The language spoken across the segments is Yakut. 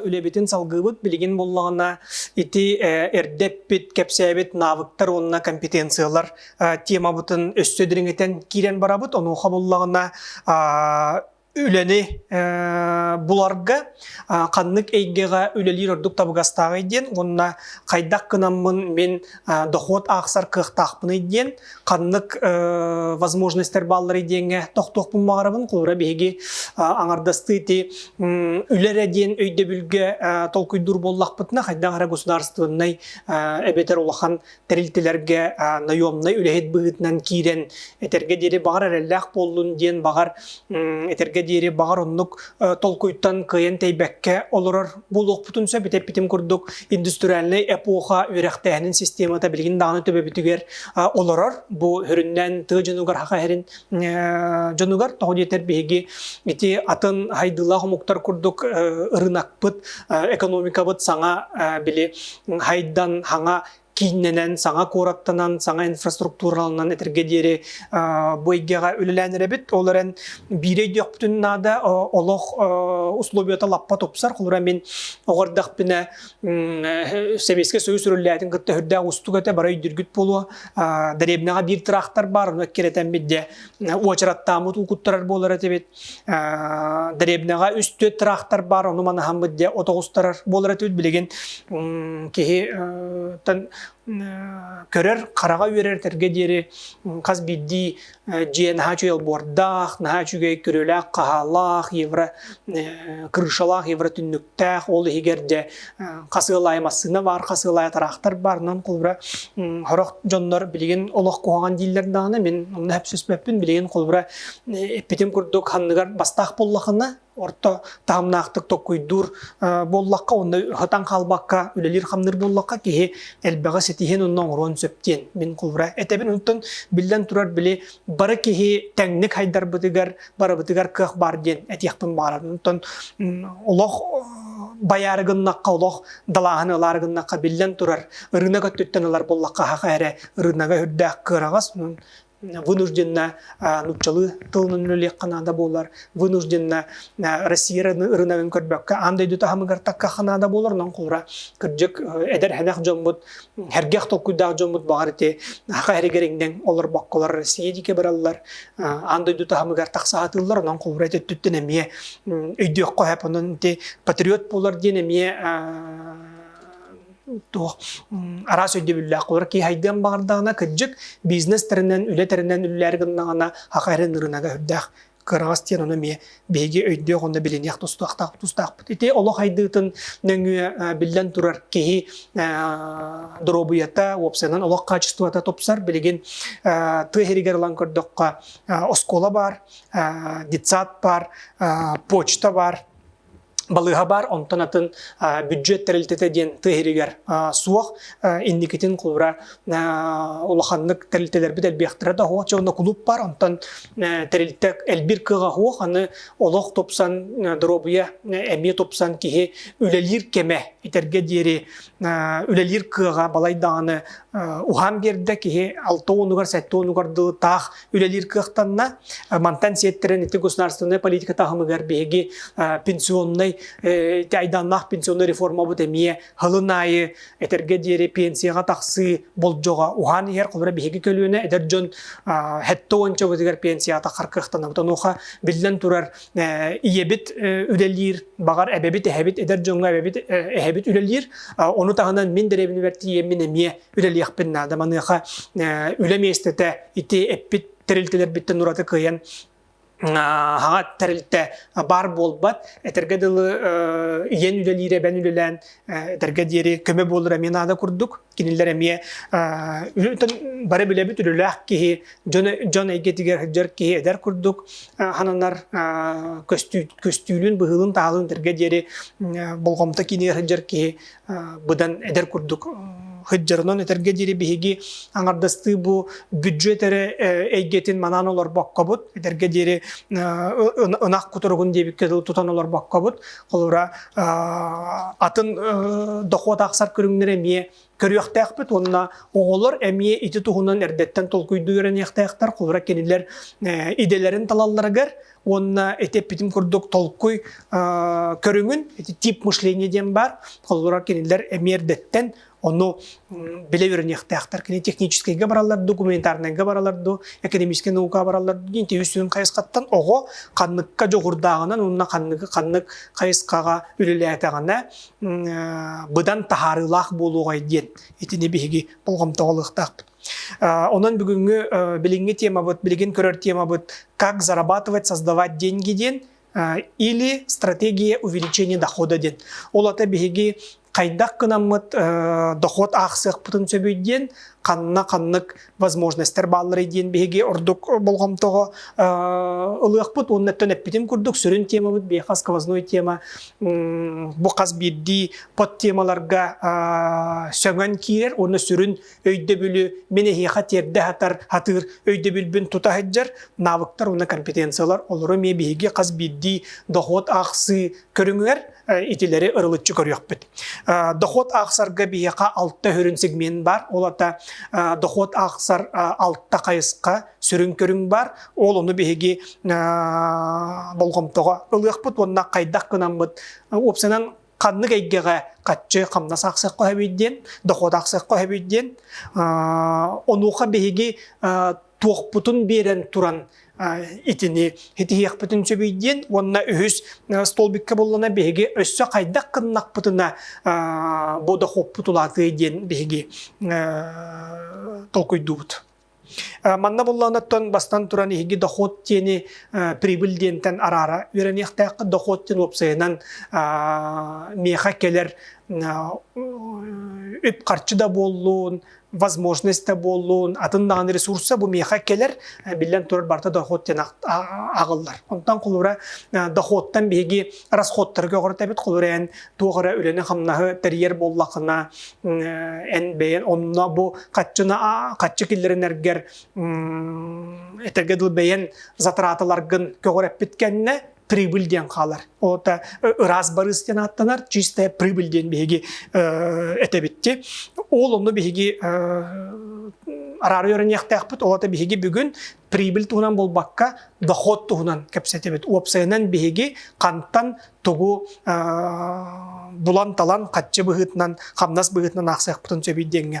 Үлэбитин салгыыбыт билигин буллаҕына ити эрдэ эппит, кэпсээбит навыктар уонна компетенциялар темабытын өссө дириҥитэн киирэн барабыт. Онуоха буллаҕына үлэни буларга ханнык эйгэҕэ үлэлиир ордук табыгастааҕый диэн уонна хайдах гынаммын мин дохуот аахсар кыахтаахпыный диэн ханнык возможностьтар баалларый диэҥҥэ тохтуохпун баҕарабын холура биһиги аҥардастыыти үлэ эрэ диэн өйдөбүлгэ толкуйдуур буоллахпытына хайдах эрэ государственнай эбэтэр улахан тэрилтэлэргэ наемнай үлэһит быһыытынан киирэн этэргэ диэри баҕар эрэллээх буоллун диэн баҕар этэргэ диэри баҕар оннук толкуйтан кыайан тэйбэккэ олорор буолуохпутун сөп бүтэппитим курдук индустриальнай эпоха үөрэхтээһинин системата билигин даҕаны төбөбүтүгэр олорор бу хөрүннэн тыа дьонугар хаха иһэрин дьонугар тоҕо диэтэр биһиги ити атын хайдыылаах омуктар курдук ырынакпыт экономикабыт саҥа били хайдан хаҥа кииннэнэн, саҥа куораттанан, саҥа инфраструктураланан этэргэ диэри бу эйгэҕэ үлэлээн эрэбит. Ол эрэн биир өйдüөхпүтүн наада, олох условията лаппа тупсар. Холура мин оҕо эрдэхпинэ Сэбиэскэй Союз үрүллээтин кытта үрдээх устук этэ, бары өйдүргүт буолуо. Дэриэбинэҕэ биир тыраахтар баар, ону эккирэтэн бидде уочараттааммыт укуттарар буолар этибит. Дребнеҕа үс-төрүт тыраахтар баар, ону манаһаммыт дьэ от оҕустарар буолар этибит. Билигин киһиттэн көрөр, хараҕа үөрэр этэргэ диэри хас биирдии дьиэ наһаа үчүгэй олбуордаах, наһаа үчүгэй көрүүлээх, хаһаалаах, евро крышалаах, евро түннүк Тээх ол иһигэр дьэ хасыалаай массыына баар, хасыалаай тыраахтар баарынан холбура хорох дьоннор билигин олох куһаҕан дииллэр даҕаны мин онно сөпсөспөппүн билигин холбура эппитим курдук ханныгар бастаах буллахына орто таһымнаахтык токкуйдуур буоллахха онно хатан хаалбакка үлэлиир хамныыр буоллахха киһи элбэҕи ситиһиэн онно оҥоруон сөптиэн мин холбура этэбин онтон биллэн турар били бары киһи тэҥник хайдарбытыгар барыбытыгар кыах баар диэн этиэхпин баҕарабын. Оттон олох байаары гыннахха, олох далааһын ылаары гыннахха, биллэн турар, ырыынак өттүттэн ылар буоллахха, хаһах эрэ ырыынага үрдээх кыараҕас вынужденно нууччалыы тылынан үлэлиэххэ наада буолар, вынужденно Россия ырынагын көрбөккө аан дойду таһымыгар таккахха наада буолар, онон кура кырдьык эдэр-хэнэх дьоммут Хәргэх толкуйдаах дьоммут баҕар ити хаһа эригериҥнэн олорбокколар Россия дике бараллар аан дойду таһымыгар тахсаатыллар онон холура өттүттэн эмиэ өйдүөххө хап онон ити патриот буолар диэн эмиэ туох араас өйдөбүллээх олор киһайдыан баҕардаҕына кырдьык бизнес тэринэн үлэ тэринэн үлэлэр гыннаҕына хаха эрин ырынага үрдээх кыраҕас диэн ону эмиэ биһиги өйдүөх уонна билиниэх тустаахтаах тустаахпыт ити олох айдыытын нөҥүө биллэн турар киһи доруобуйата уопсайынан олох хаачыстыбата тупсар билигин тыа иһигэр ылан көрдөххө оскуола баар детсад баар почта баар балыыһа баар, онтон атын бюджет тэрилтэтэ диэн тыа иһиригэр суох. Инникитин куура улаханнык тэрилтэлэрбит элбиэхтэрэ да суох, дьэ кулууп баар, онтон тэрилтэ элбир кыаҕа суох, аны олох тупсан, доруобуйа эмиэ тупсан киһи үлэлиир кэмэ итэргэ диэри үлэлиир кыаҕа балай даҕаны уһаан биэрдэ, киһи алта уонугар, сэттэ уонугар дылы таах үлэлиир кыахтанна. Мантан сиэттэрэн ити государственнай политика таһымыгар биһиги пенсионнай айдааннаах пенсионнай реформабыт эмиэ хылын аайы этэргэ диэри пенсияҕа тахсыы болдьоҕо уһаан иһэр холобура биһиги көлүөнэ эдэр дьон хэттэ уончабытыгар пенсията харкыахтанабыт онуоха биллэн турар ийэбит үлэлиир баҕар эбэбит эһэбит эдэр дьоҥҥо эбэбит эһэбит үлэлиир ону таһынан мин дэриэбинэбэр тиийэммин эмиэ үлэлиэхпин наада. Маныаха үлэ миэстэтэ ити эппит тэрилтэлэрбиттэн ураты кыайан аҕа тэрилтэ баар буолбат этэргэ дылы ийэн үлэлиир эбэн үлэлээн этэргэ диэри көмө буолара эмиэ наада курдук кинилэр эмиэ бары билэбит үлэлээх киһи дьон дьон эйгэтигэр сылдьар киһи эдэр курдук хананар көстүүлүн быһыылын таһалын этэргэ диэри болҕомто киинигэр сылдьар киһи быдан эдэр курдук сыдьырынан этэргэ диэри биһиги аҥардастыы бу бүддьүөт эрэ эйгэтин манаан олорбоккобут этэргэ диэри ынах кутуругун диэбиккэ тутан олорбоккобут холобура атын дохуот ахсар көрүҥнэрэ эмиэ көрүөхтээхпит уонна оҕолор эмиэ ити туһунан эрдэттэн толкуйдуу үөрэниэхтээхтэр холобура кинилэр идэлэрин талалларыгар Уонна ити эппитим курдук толкуй көрүҥүн, тип мышление диэн баар, холобура кинилэр эмиэрдэттэн ону билэ үөрэниэхтээхтэр. Кини техническайга бараллар дуу, гуманитарнайга бараллар дуу, экономическай наука бараллар дуу, дин тиһүсүн хайысхаттан оҕо ханныкка дьоҕурдааҕынан уонна ханнык ханнык хайысхаҕа үлэлээтэҕинэ быдан таһаарыылаах буолуоҕай диэн итини биһиги болҕомтоҕо ылыахтаахпыт. Онон бүгүҥҥү билиҥҥи темабыт, билигин көрөр темабыт «Как зарабатывать, создавать деньги» диэн или «Стратегия увеличения дохода» диэн. Ол ата биһиги хайдах кынаммыт дохуот аахсыахпытын сөбүй диэн ханна-ханнык возможностьтар баалларый диэн биһиги ордук болҕомтоҕо ылыахпыт уонна өттөн эппитим курдук сүрүн темабыт биһиэхэ сквозной тема бу хас биирдии под темаларга сөҥөн киирэр уонна сүрүн өйдөбүлү мин эһиэхэ тиэрдэ сатар сатыыр өйдөбүлбүн тута сылдьар навыктар уонна компетенциялар олору эмиэ биһиги хас биирдии дохуот аахсыы көрүҥүгэр итилэри ырылыччы көрүөхпүт. Дохуот аахсарга биһиэхэ алта үрүн сегмент бар. Ол ата дохуот аахсар алта хайысха сүрүн көрүҥ бар. Ол ону биһиги болҕомтоҕо ылыахпыт уонна хайдах кынаммыт опсынан ханнык эйгэҕэ хаччы хамнас аахсыахха сөбүй диэн, дохуот аахсыахха сөбүй диэн, онуоха биһиги туохпутун биэрэн туран итини итиһиэхпитин сөбүй диэн уонна үһүс столбикка буллана биһиги өссө хайдах гыннахпытына бу дохуоппут улаатыай диэн биһиги толкуйдуубут Манна булланыттан бастан туран иһиги дохуот диэни прибыль диэнтэн араара үөрэниэхтээх дохуот диэн уопсайынан миэхэ кэлэр үп-харчы да буоллун, возможность да буоллун, атын даҕаны ресурса бу миэхэ кэлэр, биллэн турар барыта дохуот диэн аҕаллар. Онтон холура дохуоттан биһиги расходтарга оҕорот эбит, холура эн туох эрэ үлэни-хамнаһы тэрийэр буоллахына эн бэйэн онно бу хаччына хаччы киллэринэргэр этэгэ дыл бэйэн затраталаргын көҕүрэппит кэннэ прибыль диэн хаалар. Ота ыраас барыс диэн ааттанар чистая прибыль диэн биһиги этэбитти. Ол онну биһиги араары өрөниэхтээхпит олата биһиги бүгүн прибыль туһунан болбакка доход туһунан кэпсэтибит. Уопсайынан биһиги хантан тугу булан-талан хаччы быһыытынан, хамнас быһыытынан аахсыахпытын сөбүй диэҥҥэ.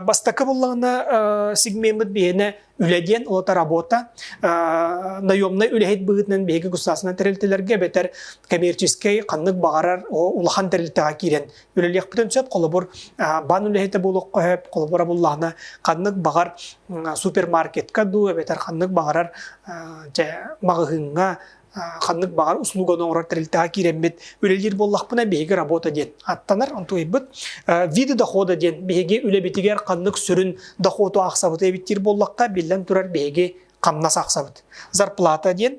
Бастакы буллаҕына сигмеммыт биһиэнэ үлэ диэн, олота работа. Наемнай үлэһит быһыытынан биһиги государственнай тэрилтэлэргэ эбэтэр коммерческэй ханнык баҕарар улахан тэрилтэҕэ киирэн үлэлиэхпитин сөп. Холобур, баан үлэһитэ буолуохха сөп, холобура буллаҕына ханнык баҕар супермаркетка дуу эбэтэр ханнык баҕарар маҕаһыыҥҥа ханнык баҕар услуганы оҥорор тэрилтэҕэ киирэммит үлэлиир буоллахпына биһиги работа диэн аттанар онтуйбут виды дохода диэн биһиги үлэбитигэр ханнык сүрүн дохуоту аахсабыт эбиттиир буоллахха биллэн турар биһиги хамнас ахсабыт. Зарплата диэн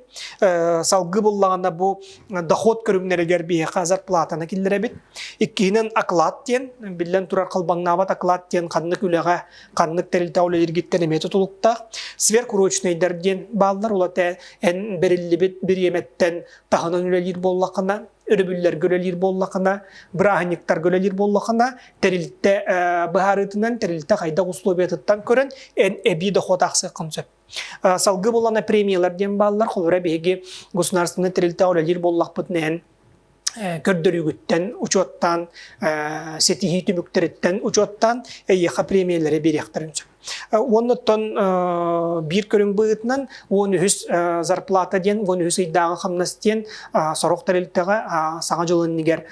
салгы буллаҕына бу доход көрүҥнэригэр биһиэхэ зарплатаны киллэрэбит. Иккиһинэн оклад диэн биллэн турар халбаҥнаабат оклад диэн ханнык үлэҕэ ханнык тэрилтэ ол эргиттэн эмиэ тутулуктаах. Сверхурочнайдар диэн бааллар, ол эн бериллибит бириэмэттэн таһынан үлэлиир буоллахына, өрөбүллэргэ үлэлиир буоллахына, бырааһынньыктарга үлэлиир буоллахына, тэрилтэ быһаарыытынан, тэрилтэ хайдах условиятыттан көрөн, эн эбии дохуот аахсыаххын сөп. Салгы булана премиялар диэн бааллар, холура биһиги государственный тэрилтэ үлэлиир буоллахпытына эн көрдөрүүгүттэн учуоттаан ситиһии түмүктэриттэн учуоттаан эйиэхэ премиялары биэриэхтэрин сөп. Уоннаттан биир көрүҥ быһыытынан он үһүс зарплата диэн он үһүс ыйдааҕы хамнас диэн сорох тэрилтэҕэ саҥа дьыл иннигэр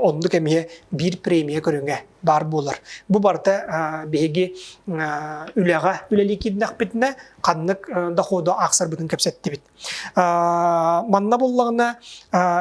оннук эмиэ биир премия көрүҥэ баар буолар. Бу барыта биһиги үлэҕэ үлэлии киирдэхпитинэ, ханнык доходу аахсарбытын кэпсэттибит. Манна буллаҕына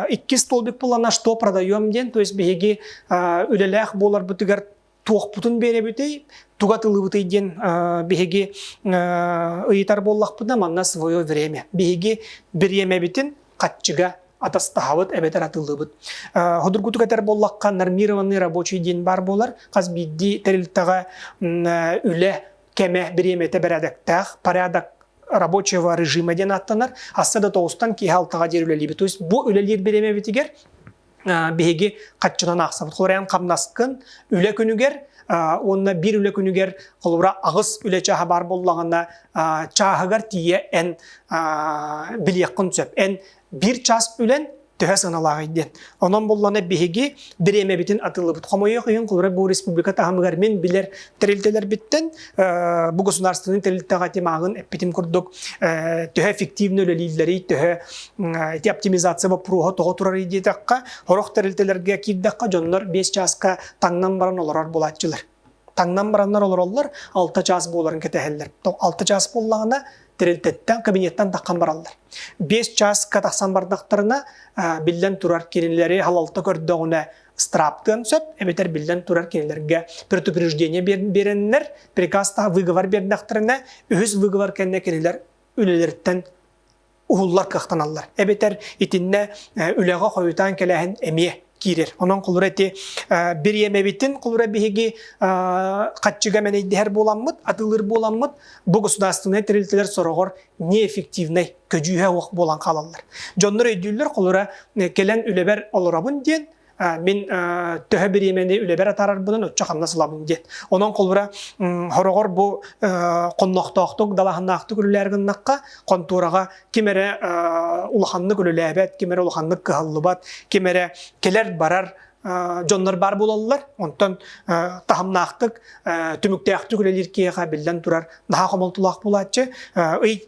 икки столбик булана что продаем диэн, то есть биһиги үлэлээх буоларбытыгар туохпутун биэрэбитий, туга тылыбытый диэн биһиги ыйытар буоллахпытына, манна свое время. Биһиги бириэмэбитин хаччыга атастаһабыт эбэтэр атыллыбыт. Худургутук этэр боллахха, нормированный рабочий диэн бар болар, хас биирдии тэрилтэҕэ үлэ кеме бириэмэтэ бэрээдэктээх, порядок рабочего режима диэн ааттанар, асса да тоҕустан киһи алтаҕа диир үлэлиибит. То есть бу үлэлиир бириэмэбитигэр биһиги хаччынан аахсабыт. Холобуран хамнаскын үлэ күнүгэр уонна биир үлэ күнүгэр холобура аҕыс үлэ чааһа баар боллаҕына чааһыгар тиийэ эн билиэххин сөп. Эн Биир час үлэн төһө сыаналааҕый диэн. Онон буллана биһиги бириэмэбитин атыллыбыт. Хомойуох иһин холобура бу республика таһымыгар мин билэр тэрилтэлэрбиттэн бу государственный тэрилтэҕэ тимагын эппитим курдук төһө эффективно үлэлииллэрий, төһө эти оптимизация боппуруоһа тоҕо турарый диэтэххэ, хорох тэрилтэлэргэ киирдэххэ дьоннор 5 часка таҥнан баран олорор булааччылар. таҥнан бараннар олороллор, алта чаас буоларын кэтэһэллэр. Алта чаас буоллаҕына, тэрилтэттэн, кабинеттан таххан бараллар. Бес чааска тахсан бардахтарына, биллэн турар кинилэри халалта көрдөҕүнэ страптыан сөп, эбэтэр биллэн турар кинилэргэ предупреждение береннэр, приказ таһа выговор бердахтарына, үһүс выговор кэннэ кинилэр үлэлэриттэн уһуллар кыахтаналлар. Эбэтэр итиннэ үлэҕэ хойутаан кэлээһин эмиэ киирэр. Онон кулура ити бир иэмэбитин кулура биһиги хаччыга мэнэйдэһэр буоламмыт, атылыр буоламмыт, бу государственнай тэрилтэлэр сороҕор неэффективнэй көдьүүһэ уох буолан хаалаллар. Дьоннор өйдүүллэр кулура кэлэн үлэбэр олоробун диэн Мин төһө бириэмэни үлэбэр атаарарбынан оччо хамнас ылабын диэн. Онон холбура хороҕор бу хоннохтоохтук, далаһаннаахтык үлэлээр гыннахха, хонтуораҕа ким эрэ улаханнык үлэлээбэт, ким эрэ улаханнык кыһаллыбат, ким эрэ кэлэр-барар дьоннор баар буолаллар. Онтон таһымнаахтык, түмүктээхтик үлэлиир киһиэхэ биллэн турар наһаа хомолтолоох буолааччы. Ый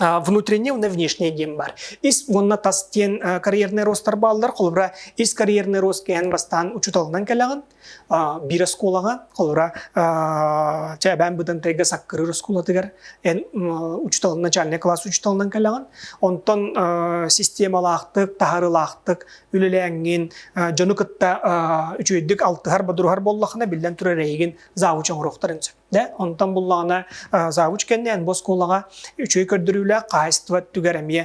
внутренний уонна внешний дембар. Ис уонна тас диэн карьерный ростар бааллар. Холобра, ис карьерный рост кээн бастаан учуталынан кэлэҕин. Биир оскуолаҕа, холобра, чээбээн быдантайга саккырыр оскуолатыгар эн учуталынан, начальный класс учуталынан кэлэҕин. Онтон системалаахтык, таһарылаахтык үлэлээҥҥин, дьону кытта үчүөйдүк алтыһар, бодуруһар буоллахына, биллэн турар эйигин завуч оҥоруохтарын сөп. Да, онтон буллаҕына завучкэннээн бу оскуолаҕа үчүгэй көрдөрүүлээх хаһайыстыба өттүгэр эмиэ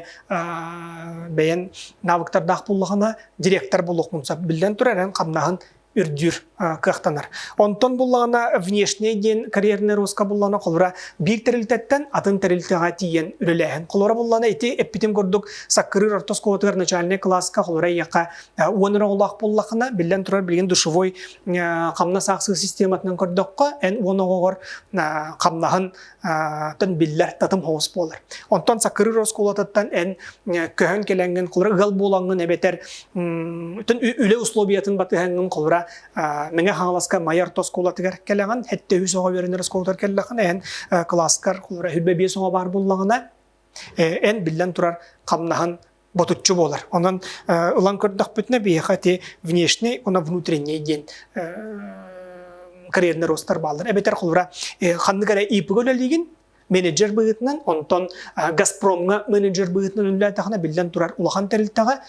бэйэн навыктардаах буллаҕына директор булуохмун сөп биллэн турар эн хамнаһын үрдүүр кыахтанар. Онтон буллаҕына внешний диэн карьерный роска буллаҕына холура биир тэрилтэттэн атын тэрилтэҕэ тиийэн үлэлээһин. Холура буллаҕына ити эппитим курдук саккырыыр орто оскуолатыгар начальнай кылааска холура ийэхэ уон өр оҕолоох буллаҕына биллэн турар билигин душевой хамнас аахсыы систематынан көрдөххө эн уон оҕоҕор хамнаһын тан биллэр татым хоҕус буолар онтон сакырыр оскуолатыттан эн көһөн кэлэҥҥин холура ыал буолаҥҥын эбэтэр түн үлэ условиятын батыһаҥҥын холура мэҥэ хаҥаласка майар оскуолатыгар кэлэҕин хэтте үс оҕо үөрэнэр оскуолатыгар кэллэҕин эн кылааскар холура хүлбэ биэс оҕо баар буллаҕына эн биллэн турар хамнаһын ботуччу буолар. Онон ылан көрдөхпүтүнэ биһиэхэ ити внешний, уна внутренний диэн карьерный ростар бааллар. Эбэтэр холура ханнык эрэ ИП-га үлэлиигин, менеджер быһыытынан, онтон Газпромҥа менеджер быһыытынан үлэлээтэххинэ, биллэн турар улахан тэрилтэҕэ,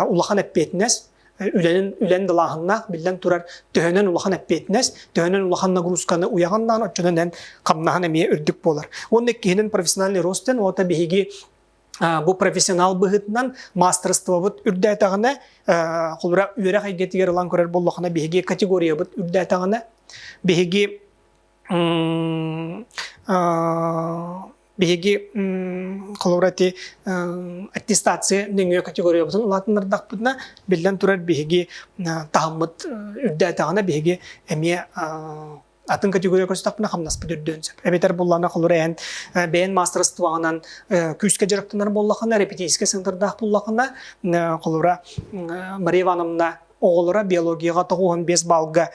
улахан эппиэтинэс, үлэнин үлэн далааһыннаах биллэн турар төһөнөн улахан эппиэтинэс төһөнөн улахан нагрузканы уйаҕаннаан оччонон эн хамнаһын эмиэ үрдүк буолар уонна киһинин профессиональный ростен оҕото биһиги Бу профессионал быһытынан мастерствобут үрдээтэҕинэ, холбура үөрэх эйгэтигэр ылан көрөр боллохуна биһиги категориябыт үрдээтэҕинэ, биһиги биһиги холобура ити аттестация нөҥүө категориябытын улаатыннардахпытына, биллэн турар биһиги таһыммыт үрдээтэҕинэ биһиги эмиэ атын категория көрсүтөхпүнэ хамнаспыт үрдүөн сөп. Эбэтэр буллана холур эһэн бэйэн мастерствоҕынан күүскэ дьарыктанар боллахына, репетиторскай центрдаах буллахына, холура Мария Ивановна оҕолоро биологияҕа тоҕуһан бес балга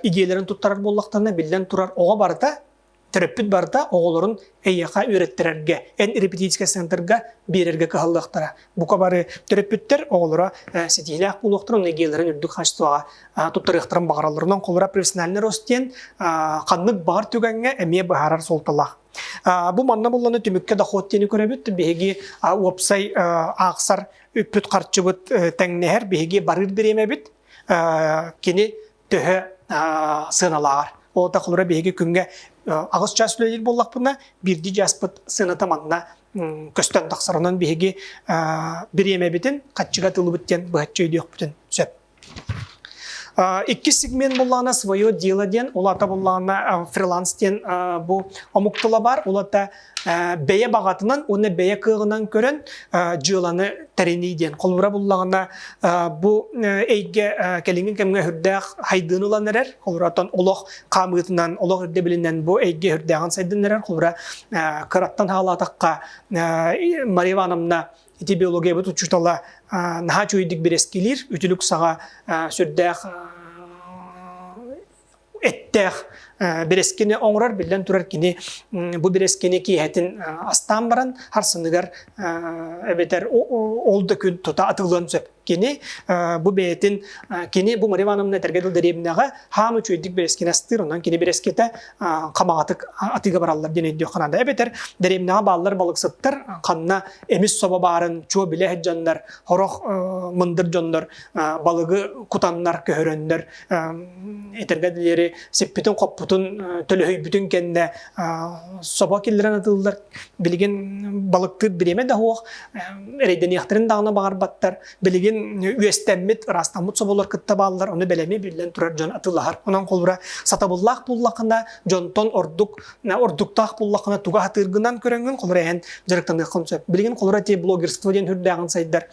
идеяларын туттарар боллахтарына биллэн турар оҕо барыта төрөппүт барыта оҕолорун эйиэхэ үөрэттэрэргэ, эн репетиторскай центрга биэрэргэ кыһаллыахтара. Бука бары төрөппүттэр оҕолоро ситиһиилээх буолуохтара, онно идеяларын үрдүк качествоҕа туттарыахтарын баҕаралларынан холура профессиональный рост диэн ханнык баҕар түгэҥҥэ эмиэ быһаарар суолталаах. Бу манна булланы түмүккэ дохуот диэни көрөбүт. Биһиги уопсай аахсар үппүт-харчыбыт тэҥнэһэр. Биһиги барыыр бириэмэбит кини төһө сыаналааҕар. Ол да холура биһиги күҥҥэ аҕыс чаас үлэлиир буоллахпына, биирдии чааспыт сыаната манна көстөн тахсарынан биһиги бириэмэбитин хаччыга тылыбыт диэн быһаччы өйдүөхпүтүн сөп. Иккис сегмент буллаана «Свое дело» диэн, улаата буллаана фриланс диэн бу омук тыла бар, улата бэйэ баҕатынан уонна бэйэ кыаҕынан көрөн дьыаланы тэринии диэн холобура буллаҕына бу эйгэ кэлиҥҥи кэмҥэ үрдээх хайдыын ылан эрэр холобура оттон олох хаамыытынан олох ирдэбилинэн бу эйгэ үрдээҕин сайдын эрэр холобура кыраттан хаалаатахха Мария Ивановна ити биологиябыт учуутала наһаа үчүгэйдик бирэскилиир үтүлүк саҕа сүрдээх эттээх бирэскини оҥорор биллэн турар кини бу бирэскини киэһэтин астаан баран харсыныгар эбэтэр ол да күн тута атылыан сөп кини бу бэйэтин кини бу Мария Ивановна этэргэ дыл дэриэбинэҕэ хаан үчүгэйдик бирэскини астыыр онон кини бирэскитэ хамаҕатык атыыга бараллар диэн өйдүөххэ наада эбэтэр дэриэбинэҕэ бааллар балыксыттар ханна эмис собо баарын чуо билэ сылдьаннар, сорох мындыр дьоннор балыгы кутаннар, көһөрөннөр этэргэ диэри сиппитин-хоппутун, төлөһүйбүтүн кэннэ собо киллэрэн атыыллар. Билигин балыктыыр бириэмэ да суох, эрэйдэниэхтэрин даҕаны баҕарбаттар. Билигин үөстэммит, ыраастаммыт соболор кытта бааллар, ону бэлэми биллэн турар дьон атыылаһар. Онон холбура сатабыллаах буоллахына, дьонтон ордук ордуктаах буллаххына туга атыыргынан көрөҥҥүн холура эһэн дьарыктаныаххын сөп билигин холура те блогерство диэн үрдээҕин сайдар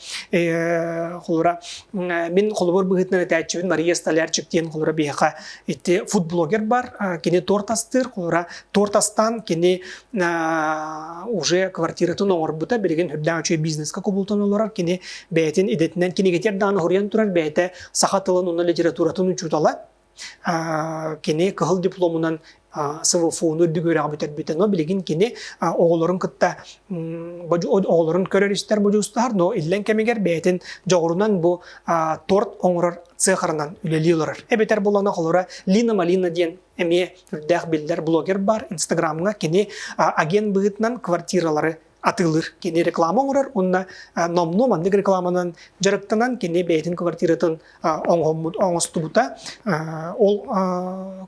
холура мин холобур быһыытынан этээччибин мария столярчик диэн холура биһиэхэ ити футблогер бар кини торт астыыр холура торт астаан кини уже квартиратын оҥорбута билигин үрдээх үчүгэй бизнеска кубултан олорор кини бэйэтин идэтинэн кинигэтигэр даҕаны хоруйан турар бэйэтэ саха тылын уонна литературатын учуутала кини кыһыл дипломунан СВФУ-ну үрдүк үөрэҕи бүтэрбитэ. Но билигин кини оҕолорун кытта оҕолорун көрөр-истэр модьуустаһар, но иллэн кэмигэр бэйэтин дьоҕурунан бу торт оҥорор цехарынан үлэлии олорор. Эбэтэр булана холора Лина Малина диэн эмиэ үрдээх биллэр блогер бар. Инстаграмҥа кини агент быһыытынан квартиралары атыылыыр. Кини реклама оҥорор уонна номнуо маннык рекламанан дьарыктанан кини бэйэтин квартиратын оҥоһуммут, оҥостубута. Ол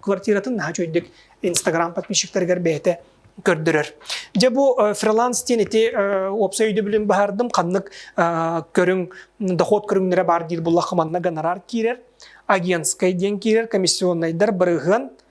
квартиратын наһаа үчүгэйдик Инстаграм подписчиктарыгар бэйэтэ көрдөрөр. Дьэ бу фриланс диэн ити уопсай өйдөбүлүн баһаардым ханнык көрүҥ дохуот көрүҥнэрэ баар диир буллахха манна гонорар киирэр агентскай диэн киирэр комиссионнайдар бырыһыан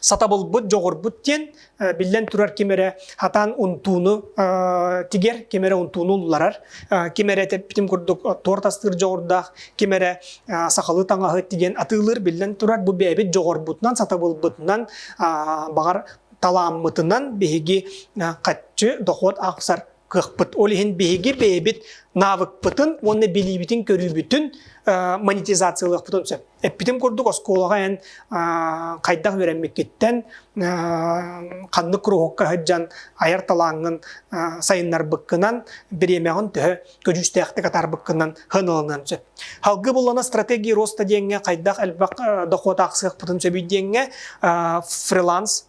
сатабылбыт дьоҕурбут диэн биллэн турар ким эрэ хатаан унтууну тигэр ким эрэ унтууну улларар ким эрэ тэппитим курдук туорт астыыр дьоҕурдаах ким эрэ сахалыы таҥаһы тигэн атыылыыр биллэн турар бу бэйэбит дьоҕурбутунан сатабылбытынан баҕар талааммытынан биһиги хаччы дохуот аахсар кыахпыт. Ол иһин биһиги бэйэбит навыкпытын уонна билиибитин-көрүүбүтүн монетизациялыахпытын сөп. Эппитим курдук, оскуолаҕа эн хайдах үөрэммиккиттэн ханнык куруһукка сылдьан айар талааҥҥын сайыннарбыккынан, бириэмэҕин төһө көдьүүстээхтик атаарбыккынан сыаналаныан сөп. Салгы буллана стратегия роста диэҥҥэ хайдах элбэх дохуот аахсыахпытын сөбүй диэҥҥэ фриланс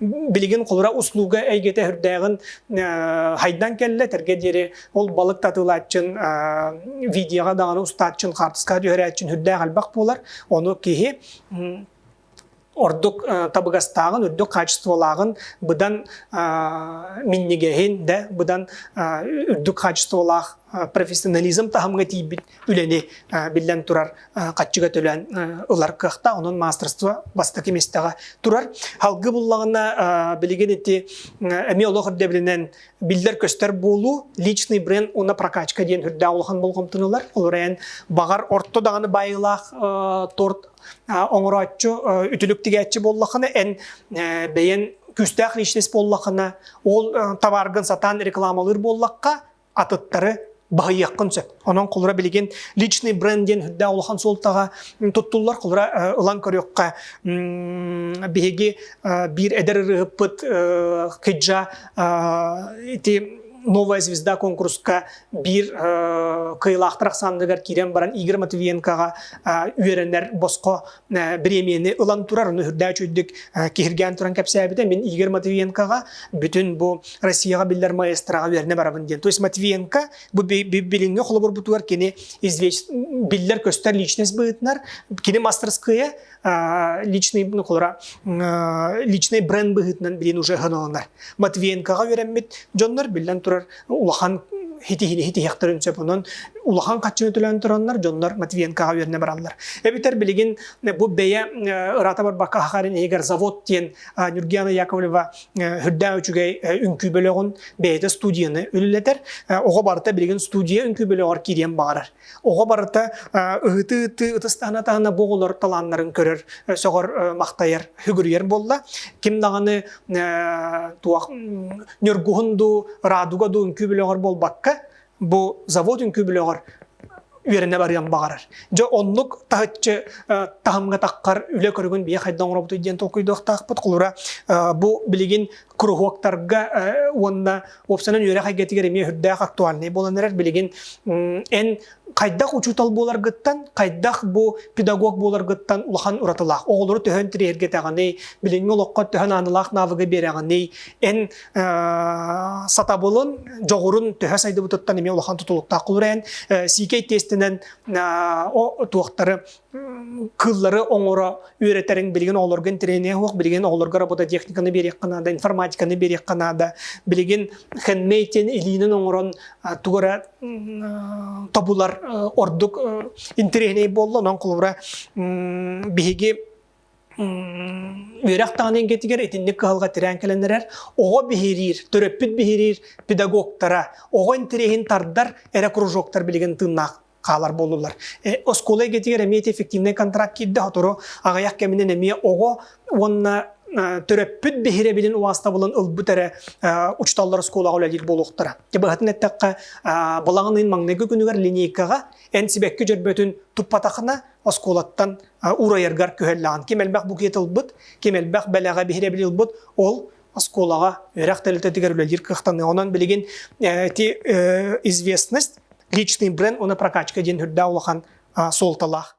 билигин холура услуга эйгэтэ үрдээҕин хайдан кэллэ тэргэ диэри ол балык татылааччын видеоға даҕаны устааччын хаартыска түһэрээччин үрдээх альбах буолар ону киһи ордук табыгастааҕын үрдүк хаачестволааҕын быдан миннигеһин да быдан үрдүк хаачестволаах профессионализм таһымга тиийбит үлэни биллэн турар хаччыга төлөөн ылар кыахта, онон маастырство бастакы местэҕэ турар. Халгы буллаҕына билигин ити эмиэ олох үрдэбилинэн биллэр-көстөр буолуу, личный бренд уонна прокачка диэн үрдээх улахан болҕомтонуулар. Олор эн баҕар орто даҕаны байылаах торт оҥорооччу үтүлүк тигээччи буоллахына эн бэйэн күүстээх личность буоллахына ол табааргын сатаан рекламалыыр буоллахха атыттары баһыйыаххын сөп. Онон холура билигин личный бренд диэн үрдээх улахан суолтаҕа туттуллар холура ылан көрүөххэ биһиги биир эдэр ырыһыппыт Киджа ити новая звезда конкурска биир кыйылаахтар ахсаанныгар киирэн баран Игорь Матвиенкоҕа үөрэнэр босхо бириэмийэни ылан турар, аны үрдээч үрдүк киһиргээн туран кэпсээбитэ, мин Игорь Матвиенкоҕа бүтүн бу Россияҕа биллэр маэстраҕа үөрэнэ барабын диэн. То есть Матвиенко бу билиҥҥи холобурбутугар кини извеч биллэр-көстөр личность быһытынар, кини мастерская личный ну, личный бренд быһытынан билин уже ханыланар. Матвиенкоҕа үөрэммит дьоннор биллэн турар улахан хитиһиэхтэрин сөп онон улахан хаччыны төлөөн тураннар дьоннор Матвиенкаҕа үөрэнэ бараллар эбэтэр билигин бу бэйэ ыраата барбакка ахаарин иһигэр завод диэн Нюргиана Яковлева үрдээн үчүгэй үҥкүү бөлөҕүн бэйэтэ студияны үлэлэтэр оҕо барыта билигин студия үҥкүү бөлөҕөр киириэн баҕарар Оҕо барыта ыһыы-ыһыы ытыстаһына-таһына бу оҕолор талааннарын көрөр, сөҕөр, махтайар, хүгүрүйэр буолла. Ким даҕаны туох ньургуһун дуу, радуга дуу үҥкүү билэҕэр буолбакка, бу завод үҥкүү билэҕэр үөрэнэ барыан баҕарар. Дьэ оннук таһыччы таһымҥа таххар үлэ көрүгүн бие хайда оҥоробутуй диэн толкуйдуохтаахпыт. Холура бу билигин куруһуоктарга уонна уопсанан үөрэх эйгэтигэр эмиэ үрдээх актуальнай буолан эрэр билигин эн хайдах учуутал буоларгыттан хайдах бу педагог буоларгыттан улахан уратылаах оҕолору төһөн тириэргэтэҕиний билиҥҥи олоххо төһөн аанылаах навыгы биэрэҕиний эн сатабылын дьоҕурун төһө сайдыбытыттан эмиэ улахан тутулуктаах холура эн CK тестинэн туохтары кыллары оҥоро үөрэтэрин билигин оҕолорго интэриниэ суох билигин оҕолорго робототехниканы биэриэххэ наада информатиканы биэриэххэ наада билигин хендмейтин илиинин оҥорон тугу эрэ тобулар ордук интэриэһинэй буолла онон холобура биһиги үөрэх даҕаны эйгэтигэр итинник кыһалҕа тирээн кэлэн эрэр оҕо биһириир төрөппүт биһириир педагогтара оҕо интэриэһин тардар эрэ кружоктар билигин тыыннаах хаалар буоллулар. Э, оскуола эйгэтигэр эмиэ эффективнай контракт киирдэ, сотору аҕыйах кэминэн эмиэ оҕо уонна төрөппүт биһирэбилин уастабылын ылбыт эрэ учууталлар оскуолаҕа үлэлиир буолуохтара. Быһатын эттэххэ, балаҕан ыйын маҥнайгы күнүгэр линейкаҕа эн сибэкки дьөрбөтүн туппатахына оскуолаттан уурайаргар күһэллэҕин. Ким элбэх букет ылбыт, ким элбэх бэлэҕэ биһирэбил ылбыт, ол оскуолаҕа үөрэх тэрилтэтигэр үлэлиир кыахтаныа. Онон билигин ити известность, личный бренд уонна прокачка диэн үрдээх улахан суолталаах.